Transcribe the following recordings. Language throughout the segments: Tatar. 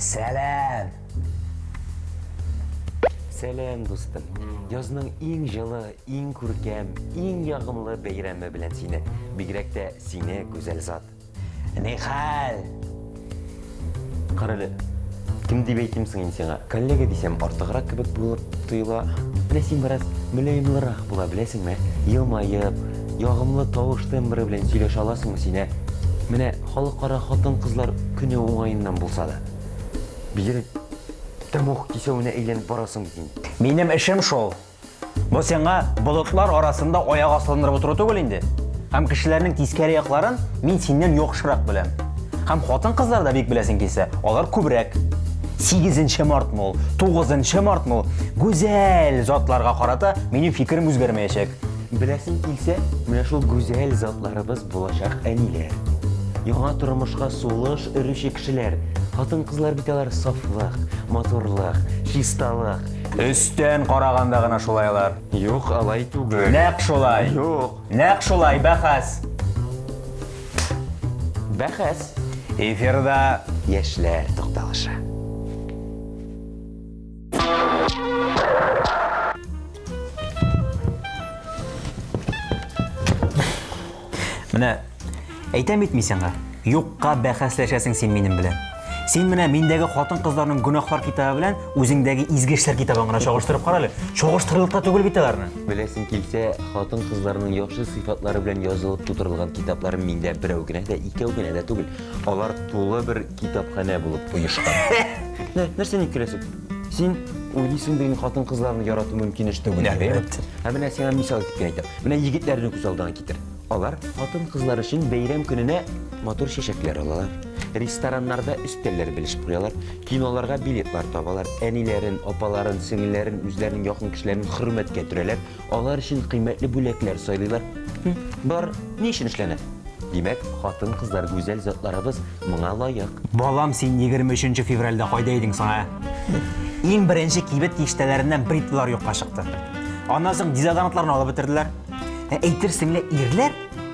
Сәлам! Сәлам, дустым. Язның иң җылы, иң күркәм, иң ягымлы бәйрәме белән сине. Бигрәк тә сине, гүзәл зат. Ни хәл? Карале, кем дип әйтим соң инде сиңа? Коллега дисәм, артыграк кебек булып тоела. Менә син бераз мөлаемлырак була беләсеңме? Елмаеп, ягымлы тавыш тембры белән сөйләшә аласыңмы син, ә? Менә Халыкара хатын-кызлар көне уңаеннан булса да, бигрәк тә мох кисәвенә әйләнеп барасың бит инде. Минем эшем шул. Бу сиңа болытлар арасында аяк асландырып утыру түгел инде. Һәм кешеләрнең тискәре якларын мин синнән яхшырак беләм. Һәм хатын-кызлар да бик беләсең килсә, алар күбрәк. Сигезенче мартмы ул, тугызынчы мартмы ул, гүзәл затларга карата минем фикерем үзгәрмәячәк. Беләсең килсә, менә шул гүзәл затларыбыз булачак әниләр. Яңа тормышка сулыш өрүче кешеләр. Хатын-кызлар бит алар сафлык, матурлык, чисталык. Өстән караганда гына шулай алар. Юк, алай түгел. Нәкъ шулай. Юк. Нәкъ шулай, бәхәс. Бәхәс. Эфирда яшьләр тукталышы. Менә әйтәм бит мин сиңа, юкка бәхәсләшәсең син минем белән. Син менә миндәге хатын-кызларның гөнаһлар китабы белән үзеңдәге изге эшләр китабын гына чагыштырып кара әле. Чагыштырырлык та түгел бит аларны. Беләсең килсә, хатын-кызларның яхшы сыйфатлары белән язылып тутырылган китапларым миндә берәү генә дә, икәү генә дә түгел. Алар тулы бер китапханә булып оешкан. Нә- Нәрсә ник көләсең? Син уйлыйсың бит хатын кызларны ярату мөмкин эш түгел. дип, әйеме? Әлбәттә. Ә менә сиңа мисал итеп кенә әйтәм. Менә егетләрне күз алдына китер. Алар хатын кызлар өчен бәйрәм көненә матур чәчәкләр алалар. Рестораннарда өстәлләр белешеп куялар. Киноларга билетлар табалар. Әниләрен, апаларын, сеңелләрен, үзләренең якын кешеләрен хөрмәткә төрәләр. алар өчен кыйммәтле бүләкләр сайлыйлар. Бар ни өчен эшләнә? Димәк, хатын-кызлар гүзәл затларыбыз моңа лаек. Балам, син 23 февральдә кайда идең соң, ә? Иң беренче кибет киштәләреннән бритвалар юкка чыкты. Аннан соң дезодорантларны алып бетерделәр. Ә әйтерсең лә ирләр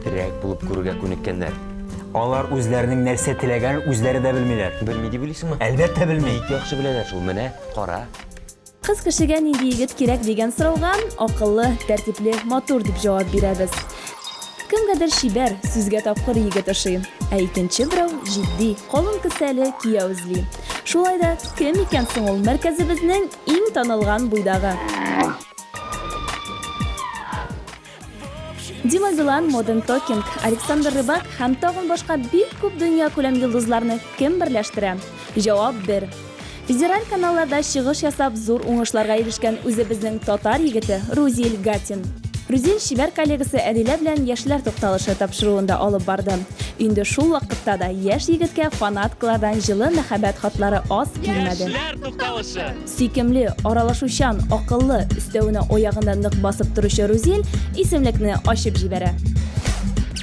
Терәк булып күрергә күнеккәннәр. Алар үзләренең нәрсә теләгәнен үзләре дә белмиләр. Белми дип уйлыйсыңмы? Әлбәттә белми. Бик яхшы беләләр шул, менә, кара. Кыз кешегә нинди егет кирәк дигән сорауга акыллы, тәртипле, матур дип җавап бирәбез. Кемгәдер чибәр, сүзгә тапкыр егет ошый, ә икенче берәү җитди, калын кесәле кияү эзли. Шулай да, кем икән соң ул мәркәзебезнең иң танылган буйдагы? Дима Билан, Modern Talking, Александр Рыбак һәм тагын башка бик күп дөнья күләм йолдызларны кем берләштерә? Җавап бер. Федераль каналларда чыгыш ясап зур уңышларга ирешкән үзебезнең татар егете Рузиль Гатин. Рузиль чибәр коллегасы Әдилә белән яшьләр тукталышы тапшыруында алып барды. Инде шул вакытта да яшь егеткә фанаткалардан җылы мәхәббәт хатлары аз килмәде. Яшьләр тукталышы. Сөйкемле, аралашучан, акыллы, өстәвенә аягында нык басып торучы Рузиль исемлекне ачып җибәрә.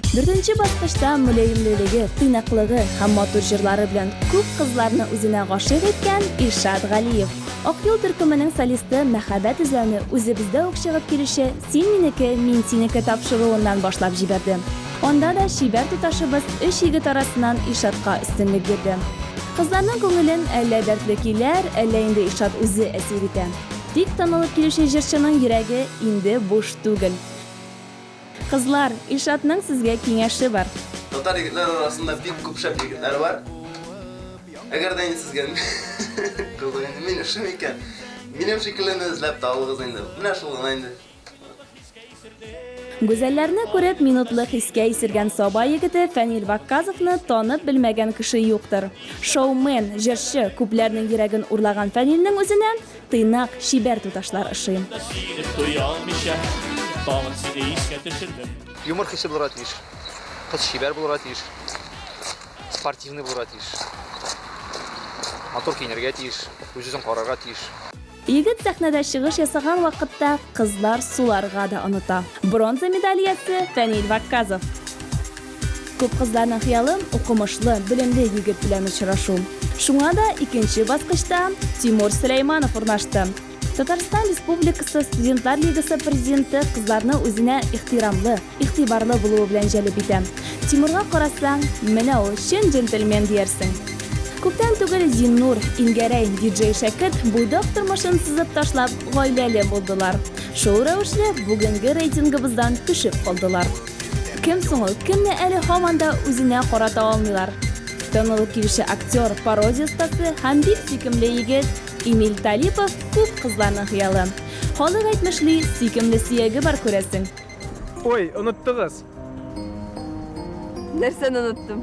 Дүртенче баскычта мөлаемлелеге, тыйнаклыгы һәм матур җырлары белән күп кызларны үзенә гашыйк иткән Илшат Галиев. Акъюл төркеменең солисты мәхәббәт эзләүне үзебездә үк чыгып килүче Син минеке, мин синеке тапшыруыннан башлап җибәрде. Анда да чибәр туташыбыз өч егет арасыннан Илшатка өстенлек бирде. Кызларның күңелен әллә дәртле көйләр, әллә инде Илшат үзе әсир итә. Тик танылып килүче җырчының йөрәге инде буш түгел. Кызлар, Илшатның сезгә киңәше бар. Татар егетләре арасында бик күп шәп егетләр бар. Әгәр дә инде сезгә кызык инде мин шым икән, минем шикеллене эзләп табыгыз инде. Менә шул гына инде. Гүзәлләрне күреп, минутлы хискә исергән Саба егете Фәнил Вакказовны танып белмәгән кеше юктыр. Шоумен, җырчы, күпләрнең йөрәген урлаган Фәнилнең үзенә тыйнак, чибәр туташлар ошый. Юмор хисе булырга тиеш. Кыз чибәр булырга тиеш. Спортивный булырга тиеш. Матур киенергә тиеш, үз-үзен карарга тиеш. Егет сәхнәдә чыгыш ясаган вакытта кызлар суларга да оныта. Бронза медаль иясе Фәнил Вакказов. Күп кызларның хыялы, укымышлы, белемле егет белән очрашу. Шуңа да икенче баскычта Тимур Сөләйманов урнашты. Татарстан Республикасы Студентлар лигасы президенты кызларны үзенә ихтирамлы, Игътибарлы булуы белән җәлеп итә. Тимурга карасаң, менә ул чын джентльмен диярсең. Күптән түгел Зиннур, Ингәрәй, диджей Шәкерт буйдак тормышын сызып ташлап, гаиләле булдылар. Шул рәвешле бүгенге рейтингыбыздан төшеп калдылар. Кем соң ул, кемне әле һаман да үзенә карата алмыйлар? Танылып килүче актер, пародия остасы һәм бик сөйкемле егет Эмиль Талипов күп кызларның хыялы. Халык әйтмешли, сөйкемле сөяге бар, күрәсең. Ой, оныттыгыз. Нәрсәне оныттым?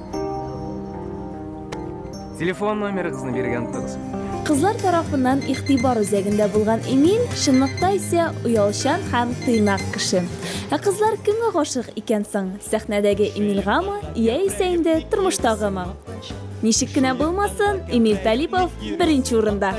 Телефон номерыгызны биргән тыгыз. Кызлар тарафыннан игътибар үзәгендә булган Эмиль чынлыкта исә оялчан һәм тыйнак кеше. Ә кызлар кемгә гашык икән соң? Сәхнәдәге Эмильгамы яисә инде тормыштагымы? Ничек кенә булмасын, Эмиль Талипов беренче урында.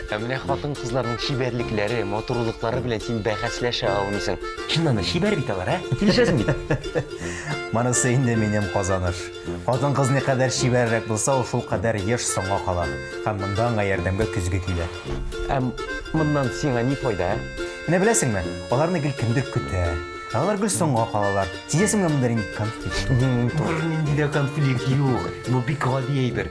Ә менә хатын-кызларның чибәрлекләре, матурлыклары белән син бәхәсләшә алмыйсың. Чыннан да чибәр бит алар, ә? Килешәсең бит? Монысы инде минем казаныш. Хатын-кыз никадәр чибәррәк булса, ул шулкадәр еш соңга кала һәм монда аңа ярдәмгә көзге килә. Ә моннан сиңа ни файда, ә? Менә беләсеңме, аларны гел кемдер көтә, ә алар гел соңга калалар. Сизәсеңме, монда нинди конфликт? Бернинди дә конфликт юк. Бу бик гади әйбер.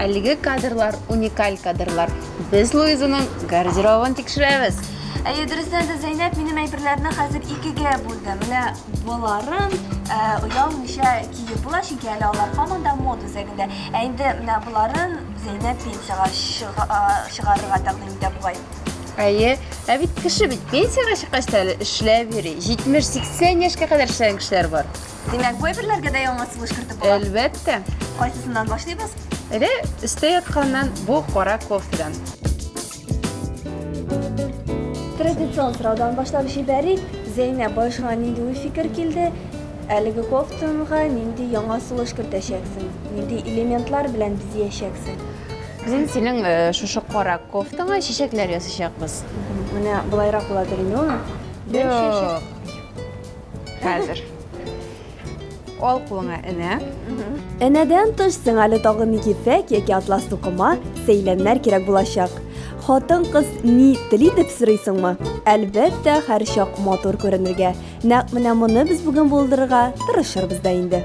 Әлеге кадрлар уникаль кадрлар. Без Луизаның гардеробын тикшерәбез. Әйе, дөрестән дә Зәйнәп минем әйберләрне хәзер икегә бүлде. Менә боларын э, оялмыйча киеп була, чөнки әле алар һаман да мод үзәгендә. Ә инде менә боларын Зәйнәп пенсиягә чыга- а, чыгарырга тәкъдим итә бугай. Әйе, ә бит кеше бит пенсиягә чыккач та әле эшләп йөри. 70-80 яшькә кадәр эшләгән кешеләр бар. Димәк, бу әйберләргә дә яңа сулыш кертеп була. Әлбәттә. Кайсысыннан башлыйбыз? Әле өстә ятканнан бу кара кофедан. Традицион сораудан башлап җибәрик. Зәйнә башыңа нинди уй фикер килде? Әлеге кофтанга нинди яңа сулыш кертәчәксең? Нинди элементлар белән бизиячәксең? Без синең э, шушы кара кофтаңа чәчәкләр ясачакбыз. Менә болайрак була дөрмиуна. Бер чәчәк. Хәзер. Ал кулыңа энә. Энәдән тыш сиңа әле тагын ефәк яки атлас тукыма, сәйләннәр кирәк булачак. Хатын-кыз ни тели дип сорыйсыңмы? Әлбәттә, һәрчак матур күренергә. Нәкъ менә моны без бүген булдырырга тырышырбыз да инде.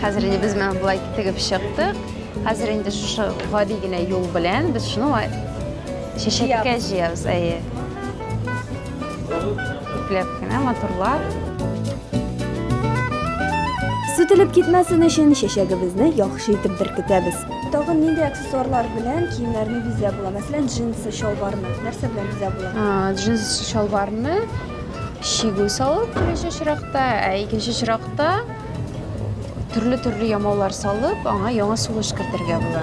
Хәзер инде без менә болай тегеп чыктык. Хәзер инде шушы гади генә юл белән без шуны чәчәккә җыябыз, әйе. Ипләп кенә матурлап. Сүтелеп китмәсен өчен чәчәгебезне яхшы итеп беркетәбез. Тагын нинди аксессуарлар белән киемнәрне бизә була? Мәсәлән, джинсы, чалбарны нәрсә белән бизә була? Джинсы, чалбарны чигү салып, беренче чиракта, ә икенче чиракта Төрле-төрле ямаулар салып, аңа яңа сулыш кертергә була.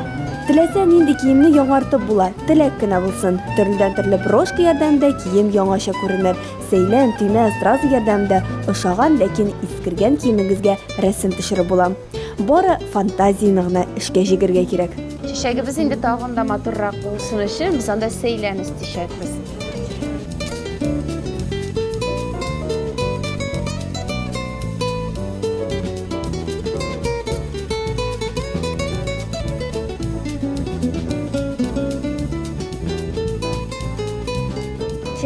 Теләсә нинди киемне яңартып була, теләк кенә булсын. Төрледән төрле брошка ярдәмендә кием яңача күренер. Сәйлән, төймә, стразы ярдәмендә ошаган, ләкин искергән киемегезгә рәсем төшереп була. Бары фантазияне генә эшкә җигергә кирәк. Чәчәгебез инде тагын да матуррак булсын өчен, без анда сәйлән өстичәкбез.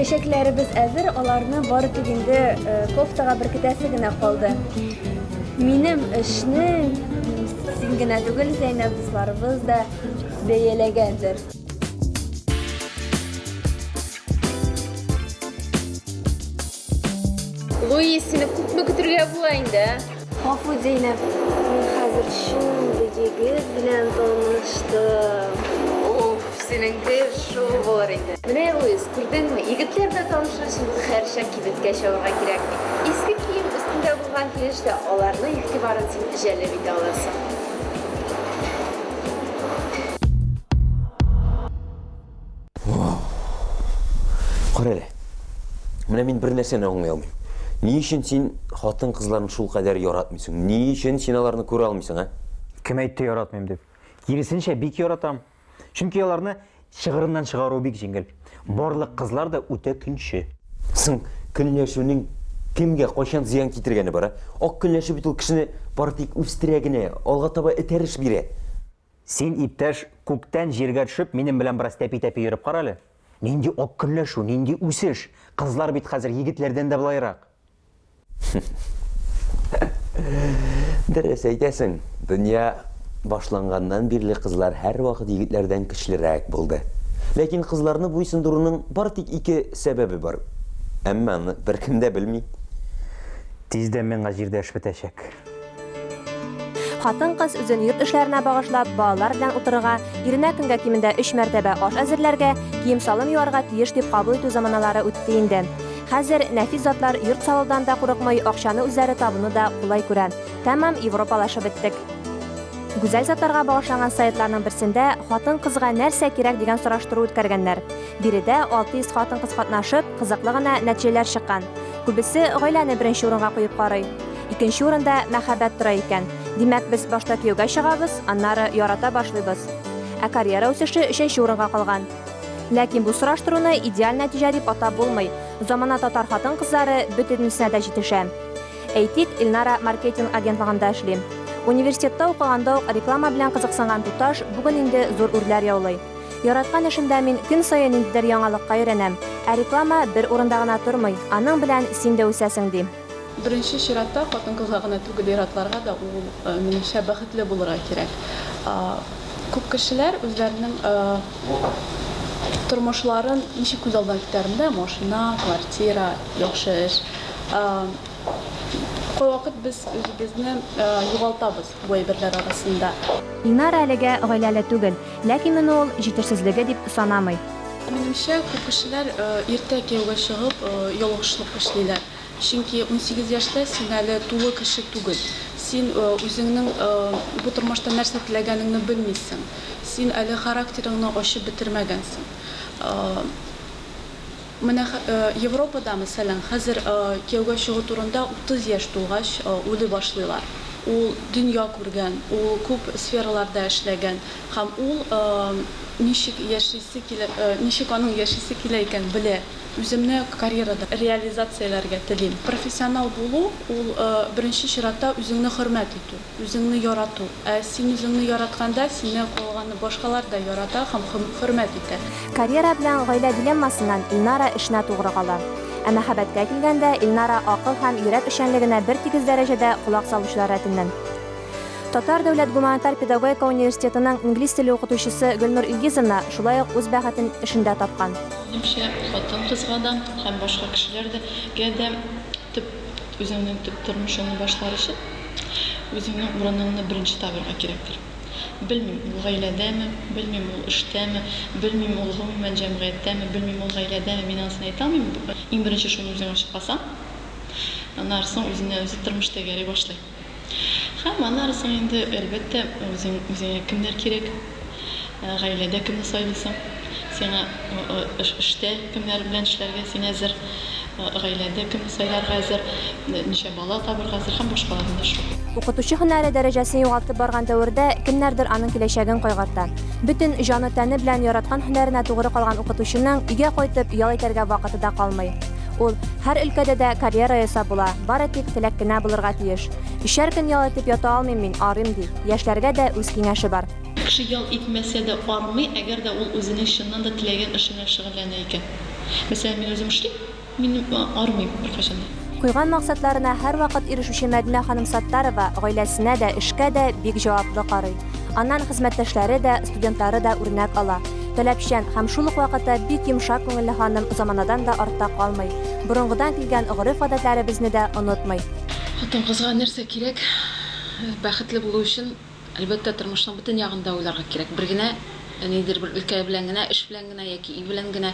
Чәчәкләребез әзер, аларны бары тик инде э, кофтага беркетәсе генә калды. Минем эшне син генә түгел, Зәйнәб дусларыбыз да бәяләгәндер. Луи, сине күпме көтергә була инде? Гафу, Зәйнәп, мин хәзер шундый егет белән таныштым. Уф, синең дә шул булыр инде. Менә Луис, күрдеңме, егетләр дә танышыр өчен хәрчә кибеткә чабарга кирәк. Иске кием өстендә булган килеш тә аларның игътибарын син җәлеп итә аласың. Кара әле. Менә мин бер нәрсәне аңлый алмыйм. Ни өчен син хатын кызларын шул кадәр яратмыйсың? Ни өчен син аларны күрә алмыйсың, а? Кем әйтте яратмыйм дип? Киресенчә, бик яратам. Чөнки аларны Чыгырыннан чыгару бик җиңел. Барлык кызлар да үтә көнче. Соң, көнләшүнең кемгә, кайчан зыян китергәне бар, ә? Ак көнләшү бит ул кешене бары тик үстерә генә, алга таба этәреш бирә. Син, иптәш, күктән җиргә төшеп, минем белән бераз тәпи-тәпи йөреп кара әле. Нинди ак көнләшү, нинди үсеш! Кызлар бит хәзер егетләрдән дә былайрак. Дөрес әйтәсең, дөнья башланганнан бирле кызлар һәрвакыт егетләрдән көчлерәк булды. Ләкин кызларны буйсындыруның бары тик ике сәбәбе бар. Әмма аны беркем дә белми. Тиздән миңа җирдә эш бетәчәк. Хатын-кыз үзен йорт эшләренә багышлап, балалар белән утырырга, иренә көнгә кимендә өч мәртәбә аш әзерләргә, кием-салым юарга тиеш дип кабул итү заманалары үтте инде. Хәзер нәфис затлар йорт салудан да курыкмый, акчаны үзләре табуны да кулай күрә. Тәмам европалашып беттек. Гүзәл затларга багышланган сайтларның берсендә хатын-кызга нәрсә кирәк дигән сораштыру үткәргәннәр. Биредә 600 хатын-кыз катнашып, кызыклы гына нәтиҗәләр чыккан. Күбесе гаиләне беренче урынга куеп карый. Икенче урында мәхәббәт тора икән. Димәк, без башта кияүгә чыгабыз, аннары ярата башлыйбыз. Ә карьера үсеше өченче урынга калган. Ләкин бу сораштыруны идеаль нәтиҗә дип атап булмый. Замана татар хатын-кызлары бөтенесенә дә җитешә. Әйтик, Илнара маркетинг агентлыгында эшли. Университетта укыганда ук реклама белән кызыксынган туташ бүген инде зур үрләр яулый. Яраткан эшемдә мин көн саен ниндидер яңалыкка өйрәнәм. Ә реклама бер урында гына тормый, аның белән син дә үсәсең, ди. Беренче чиратта, хатын-кызга гына түгел, ир-атларга да ул, минемчә, бәхетле булырга кирәк. Күп кешеләр үзләренең тормышларын ничек күз алдына китерәләр? Машина, квартира, яхшы эш. Кайвакыт без үзебезне югалтабыз. бу әйберләр арасында. Ильнара әлегә гаиләле түгел, ләкин моны ул җитешсезлеге дип санамый. Минемчә, күп кешеләр иртә кияүгә чыгып, ялгышлык эшлиләр. Чөнки унсигез яшьтә син әле тулы кеше түгел. Син үзеңнең бу тормышта нәрсә теләгәнеңне белмисең. Син әле характерыңны ачып бетермәгәнсең. Менә Европада, мәсәлән, хәзер кияүгә чыгу турында утыз яшь тулгач уйлый башлыйлар. Ул дөнья күргән, ул күп сфераларда эшләгән һәм ул ничек яшисе килә, ничек аның яшисе килә икәнен белә. Үземне карьерада реализацияләргә телим. Профессионал булу, ул беренче чиратта үзеңне хөрмәт итү. Үзеңне ярату. Ә син үзеңне яратканда, сине калганы башкалар да ярата һәм хөрмәт итә. Карьера белән гаилә дилеммасыннан Илнара эшенә тугры кала. Ә мәхәббәткә килгәндә, Илнара акыл һәм йөрәк эшчәнлегенә бертигез дәрәҗәдә колак салучылар рәтеннән. Татар дәүләт гуманитар педагогика университетының инглиз теле укытучысы Гөлнур Илгизовна шулай ук үз бәхетен эшендә тапкан. Минемчә, хатын-кызга да һәм башка кешеләргә дә төп, үзеңнең төп тормышыңны башлар өчен, Үзеңнең урыныңны беренче табырга кирәктер. Белмим, ул гаиләдәме, белмим, ул эштәме, белмим, ул гомумән җәмгыятьтәме, белмим, ул гаиләдәме, мин анысын әйтә алмыйм. Иң беренче шуны үзең ачыкласаң, аннары соң үзенә үзе тормыш тәгәри башлый. Һәм аннары соң инде, әлбәттә, үзең, үзеңә кемнәр кирәк? Гаиләдә кемне сайлыйсың? Сиңа эштә кемнәр белән эшләргә син әзер? Гаиләдә кемне сайларга әзер? Ничә бала табырга әзер? Һәм башкалар менә шул. Укытучы һөнәре дәрәҗәсен югалтып барган дәвердә кемнәрдер аның киләчәген кайгырта. Бөтен җаны-тәне белән яраткан һөнәренә тугры калган укытучының өйгә кайтып ял итәргә вакыты да калмый. Ул һәр өлкәдә дә карьера ясап була, бары тик теләк кенә булырга тиеш. Өчәр көн ял итеп ята алмыйм мин, арыйм, ди. Яшьләргә дә үз киңәше бар. Кеше ял итмәсә дә армый, әгәр дә ул үзенең чыннан да теләгән эше белән шөгыльләнә икән. Мәсәлән, мин үзем эшлим, мин армыйм беркайчан да. Куйган максатларына һәрвакыт ирешүче Мәдинә ханым Саттарова гаиләсенә дә, эшкә дә бик җаваплы карый. Аннан хезмәттәшләре дә, студентлары да үрнәк ала. Таләпчән һәм шул ук вакытта бик йомшак күңелле ханым заманадан да артта калмый, борынгыдан килгән гореф-гадәтләребезне дә онытмый. Хатын-кызга нәрсә кирәк? Бәхетле булу өчен, әлбәттә, тормышның бөтен ягын да уйларга кирәк. Бер генә, ниндидер бер өлкә белән генә, эш белән генә яки өй белән генә,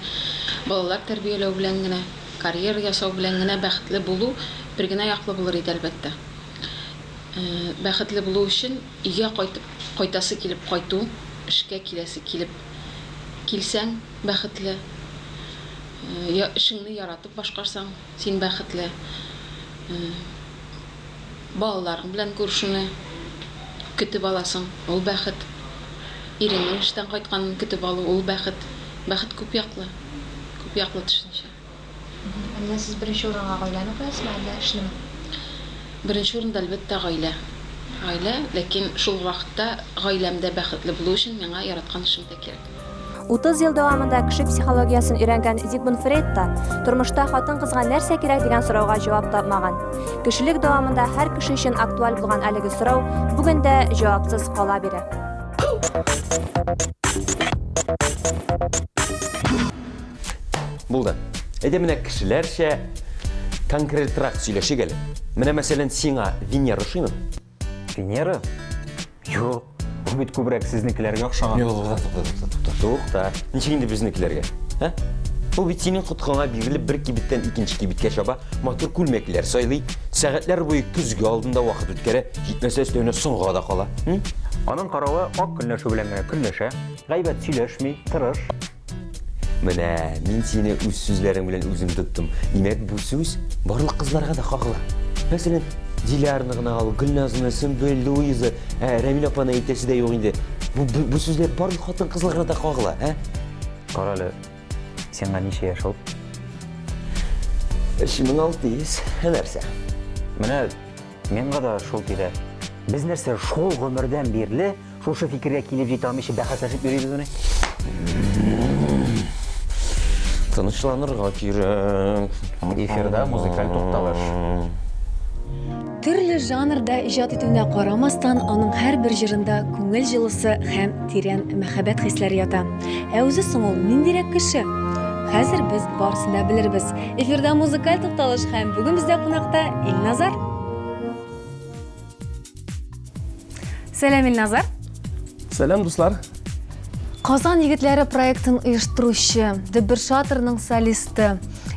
балалар тәрбияләү белән генә, карьера ясау белән генә бәхетле булу бер генә яклы булыр иде, әлбәттә. Бәхетле булу өчен, өйгә кайтып, кайтасы килеп кайту, эшкә киләсе килеп килсәң, бәхетле. Эшеңне яратып башкарсаң, син бәхетле. Балаларың белән күрешүне көтеп аласың, ул бәхет. Иреңнең эштән кайтканын көтеп алу, ул бәхет. Бәхет күп яклы, күп яклы төшенчә. Ә менә сез беренче урынга гаиләне куясызмы, әллә эшнеме? Беренче урында, әлбәттә, гаилә. Гаилә, ләкин шул ук вакытта гаиләм дә бәхетле булу өчен миңа яраткан эшем дә кирәк. 30 ел дәвамында кеше психологиясен өйрәнгән Зигмунд Фрейд та тормышта хатын-кызга нәрсә кирәк дигән сорауга җавап тапмаган. Кешелек дәвамында һәр кеше өчен актуаль булган әлеге сорау бүген дә җавапсыз кала бирә. Булды. Әйдә менә кешеләрчә конкретрак сөйләшик әле. Менә мәсәлән сиңа Венера ошыймы? Венера? Юк. Ул бит күбрәк сезнекеләргә охшаган. Юк, тукта. Тукта. Ничек инде безнекеләргә? Ә? Ул бит синең коткаңа бирелеп бер кибеттән икенче кибеткә чаба, матур күлмәкләр сайлый, сәгатьләр буе көзге алдында вакыт үткәрә, җитмәсә өстәвенә соңга да кала. Аның каравы ак көнләшү белән генә көнләшә, гайбәт сөйләшми, тырыш. Менә мин сине үз сүзләрең белән үзем тоттым. Димәк, бу сүз барлык кызларга да кагыла. Мәсәлән, Дилярны гына ал, Гөлназны, Сөмбел, Луиза, ә Рәмил апаны әйтәсе дә юк инде. Бу, бу, бу сүзләр барлык хатын кызларга да кагыла, ә? Кара әле, сиңа ничә яшь ул? 3600. Ә нәрсә? Менә миңа да шул тирә. Без нәрсә, шул гомердән бирле Шушы фикергә килеп җитә алмыйча бәхәсләшеп йөрибез менә. Тынычланырга кирәк. Эфирда музыкаль тукталыш. Төрле жанрда иҗат итүенә карамастан, аның һәрбер җырында күңел җылысы һәм тирән мәхәббәт хисләре ята. Ә үзе соң ул ниндирәк кеше? Хәзер без барысын да белербез. Эфирда музыкаль тукталыш һәм бүген бездә кунакта Илназар. Сәлам, Илназар. Сәлам, дуслар. Казан егетләре проектын оештыручы, Дебер шатрының солисты.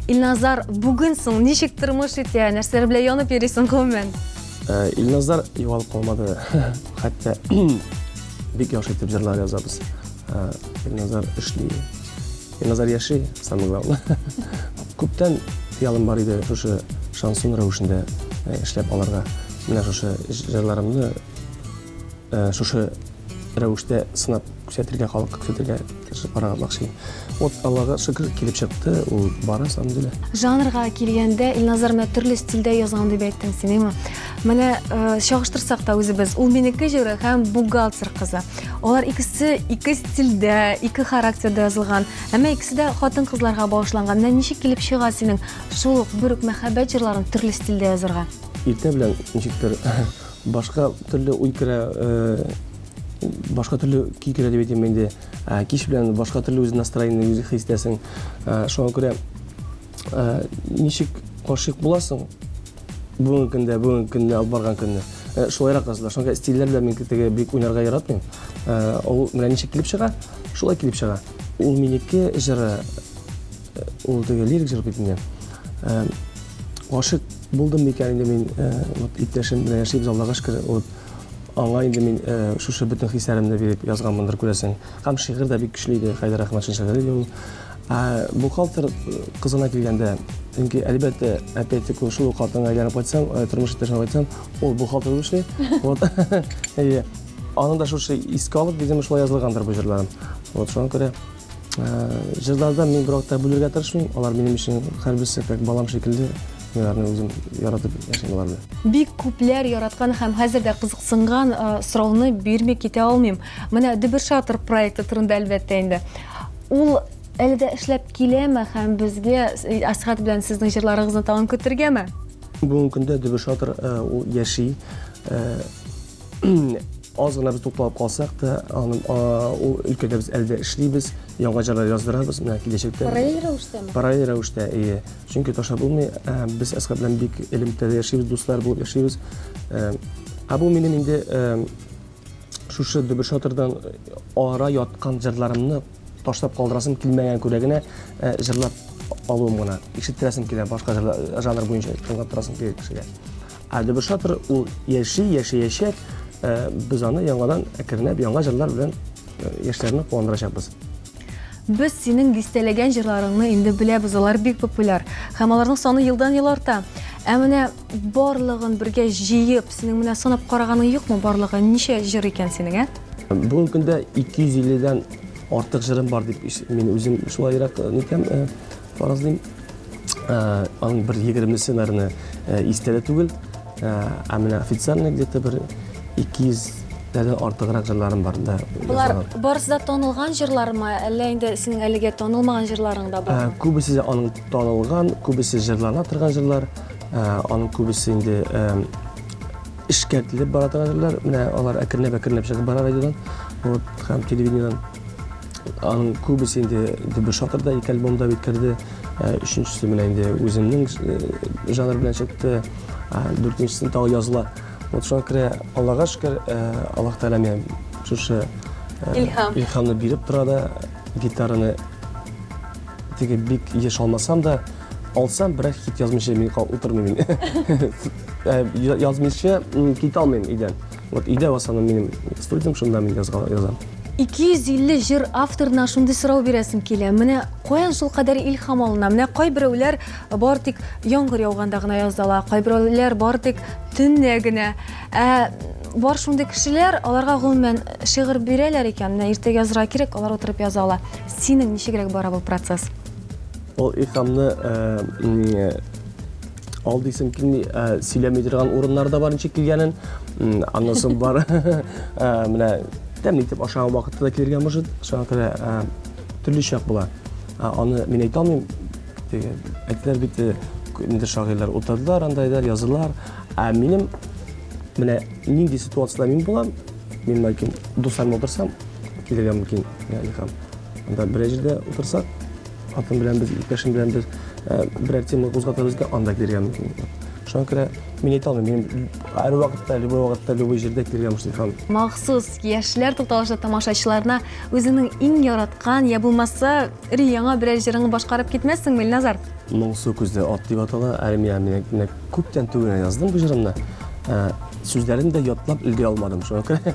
Илназар, бүген соң ничек тормыш итә? Нәрсәләр белән янып йөрисең гомумән? Э, Илназар югалып калмады. Хәтта бик яхшы итеп җырлар язабыз. Э, Илназар эшли. Назар яши, самый главный. Күптән ялым бар иде шушы шансон рәвешендә э, эшләп аларга. Менә шушы җырларымны э, шушы рәвештә сынап күрсәтергә, халыкка күрсәтергә тырышып карарга мөмкин. Вот Аллага шөкер килеп чыкты, ул бара самдиле. Жанрга килгәндә, Илназар менә төрле стильдә язган дип әйттең син, әйме? Менә э, чагыштырсак та үзебез, ул минеке җыры һәм бухгалтер кызы. Алар икесе ике стильдә, ике характерда язылган. Әмма икесе дә хатын-кызларга багышланган. Менә ничек килеп чыга синең шул ук бер үк мәхәббәт җырларын төрле стильдә язарга? Иртә белән ничектер башка төрле уй керә, э, башка төрле көй керә дип әйтәм инде. Ә, Кич белән башка төрле үз настроение, үз хистәсең. Ә, Шуңа күрә Ә, ничек гашыйк буласың? Бүгенге көндә, бүгенге көндә алып барган көндә. Ә, шулайрак кызлар. Шуңа стильләр белән мин теге бик уйнарга яратмыйм. Ә, ул менә ничек килеп чыга, шулай килеп чыга. Ул минеке җыры, э, ул теге лирик җыр бит инде. Ә, гашык булдым микән инде мин, ә, вот иптәшем белән яшибез, Аллага шөкер, вот аңа инде мин ә, шушы бөтен хисләремне биреп язганмындыр күрәсең. Һәм шигырь дә бик көчле иде, Хәйдәр Әхмәтшин шигыре иде ул. Ә бухгалтер кызына килгәндә, чөнки әлбәттә, опять-таки шул ук хатынга әйләнеп кайтсам, э, тормыш иптәшенә кайтсам, ул бухгалтер булып эшли. Вот. Әйе. Аны да шушы искә алып, видимо, шулай язылгандыр бу җырларым. Вот шуңа күрә э, җырларда мин бервакыт та бүлергә тырышмыйм. Алар минем өчен һәрберсе как балам шикелле. Мин аларны үзем яратып яшим алар белән. Бик күпләр яраткан һәм хәзер дә кызыксынган э, сорауны бирми китә алмыйм. Менә Дөбер шатыр проекты турында әлбәттә инде. Ул әле дә эшләп киләме һәм безгә Асхат белән сезнең җырларыгызны тагын көтергәме? Бүгенге көндә Дөбер шатыр ул яши. Аз гына без тукталып калсак та, аны ул өлкәдә без әле дә эшлибез, яңа җырлар яздырабыз. Менә киләчәктә. Параллель рәвештәме? Параллель рәвештә, әйе. Чөнки ташлап булмый. Без Асхат белән бик элемтәдә яшибез, дуслар булып яшибез. Ә бу минем инде Шушы дөбер шатырдан ара яткан җырларымны ташлап калдырасым килмәгән күрә генә э, җырлап алуым гына. Ишеттерәсем килә башка э, жанр буенча тыңлап торасым килә кешегә. Ә дөбер шатыр ул яши, яшәячәк. Э, без аны яңадан әкренләп яңа җырлар белән яшьләрне куандырачакбыз. Без синең дистәләгән җырларыңны инде беләбез, алар бик популяр һәм аларның саны елдан-ел арта. Ә менә Барлыгын бергә җыеп, синең менә санап караганың юкмы барлыгы? Ничә җыр икән синең, ә? Бүгенге көндә 250-дән артык җырым бар дип мин үзем шулайрак э, нитәм, э, фаразлыйм. Э, аның бер егермесе, наверное, истә дә түгел. Ә менә официально где-то бер 200 дәдән артыграк җырларым бар да. Болар барысы да танылган җырлармы, әллә инде синең әлегә танылмаган җырларың да бар? Күбесе аның танылган, күбесе җырлана торган җырлар. Аның күбесе инде эшкәртелеп бара торгандырлар. Менә алар әкренләп-әкренләп чыгып бара радиодан, вот, һәм телевидениедән. Аның күбесе инде бер шатырда ике альбом да бит керде. Өченчесе менә инде үземнең жанр белән чыкты. Дүртенчесен тагы языла. Вот шуңа күрә Аллага шөкер, Аллаһ Тәгалә миңа шушы Илһам. Илһамны биреп тора да, гитараны теге бик еш алмасам да, Алсам, бераз хит язмыйча мин кал утырмыйм мин. Э, язмыйча кит алмыйм өйдән. Вот өйдә васаны минем студиям, шунда мин язган язам. 250 җыр авторына шундый сорау бирәсем килә. Менә каян шул кадәр илһам алына? Менә кайберәүләр бар тик яңгыр яуганда гына язала, кайберәүләр бар тик төнне генә. Ә бар шундый кешеләр, аларга гомумән шигырь бирәләр икән, менә иртәгә язырга кирәк, алар утырып яза ала. Синең ничегрәк бара бу процесс? Ул икамны ал дисем килми, сөйләми торган урыннар да бар ничек килгәнен. Аннан соң бар. Менә тәмле итеп ашаган вакытта да килергә может, шуңа күрә төрле чак була. Аны мин әйтә алмыйм. Әйтәләр бит, инде шагыйрьләр утырдылар, андайдыр, язылар. Ә минем менә нинди ситуацияда мин булам, мин бәлкем дусларым утырсам, килергә мөмкин, икам. Анда берәр җирдә утырсак, Хатын белән без, иптәшем белән без э, берәр тема кузгатабыз икән, анда килергә мөмкин. Шуңа күрә мин әйтә алмыйм, мин һәр вакытта, любой вакытта, любой җирдә килергә мөмкин һәм Махсус яшьләр тукталышы тамашачыларына үзеңнең иң яраткан я булмаса ри яңа берәр җырыңны башкарып китмәссеңме, Илназар? Моңсу күзле ат дип атала. Әле миңа менә менә күптән түгел яздым бу җырымны. Ә, Сүзләрен дә ятлап өлгерә алмадым. Шуңа күрә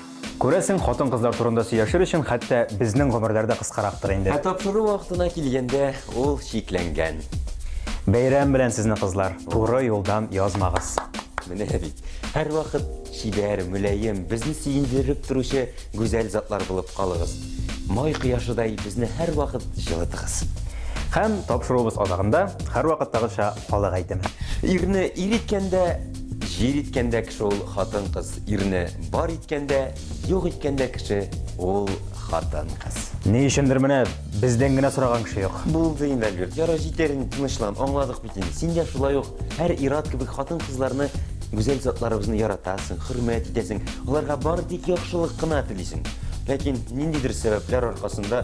Күрәсең, хатын-кызлар турында сөйләшер өчен хәтта безнең гомерләр дә кыскарактыр инде. Ә тапшыру вакытына килгәндә, ул чикләнгән. Бәйрәм белән сезне, кызлар! Туры юлдан язмагыз! Менә бит, һәрвакыт чибәр, мөлаем, безне сөендереп торучы гүзәл затлар булып калыгыз! Май кояшыдай безне һәрвакыт җылытыгыз! Һәм тапшыруыбыз азагында, һәрвакыттагыча, халык әйтеме. Ирне ир иткәндә, җир иткәндә кеше ул хатын-кыз. Ирне бар иткәндә, юк иткәндә кеше ул хатын-кыз. Ни өчендер менә бездән генә сораган кеше юк. Булды инде, Альберт. Ярар, җитәр инде, тынычлан, аңладык бит инде. Син дә шулай ук һәр ир-ат кебек хатын-кызларны, гүзәл затларыбызны яратасың, хөрмәт итәсең, аларга бары тик яхшылык кына телисең. Ләкин ниндидер сәбәпләр аркасында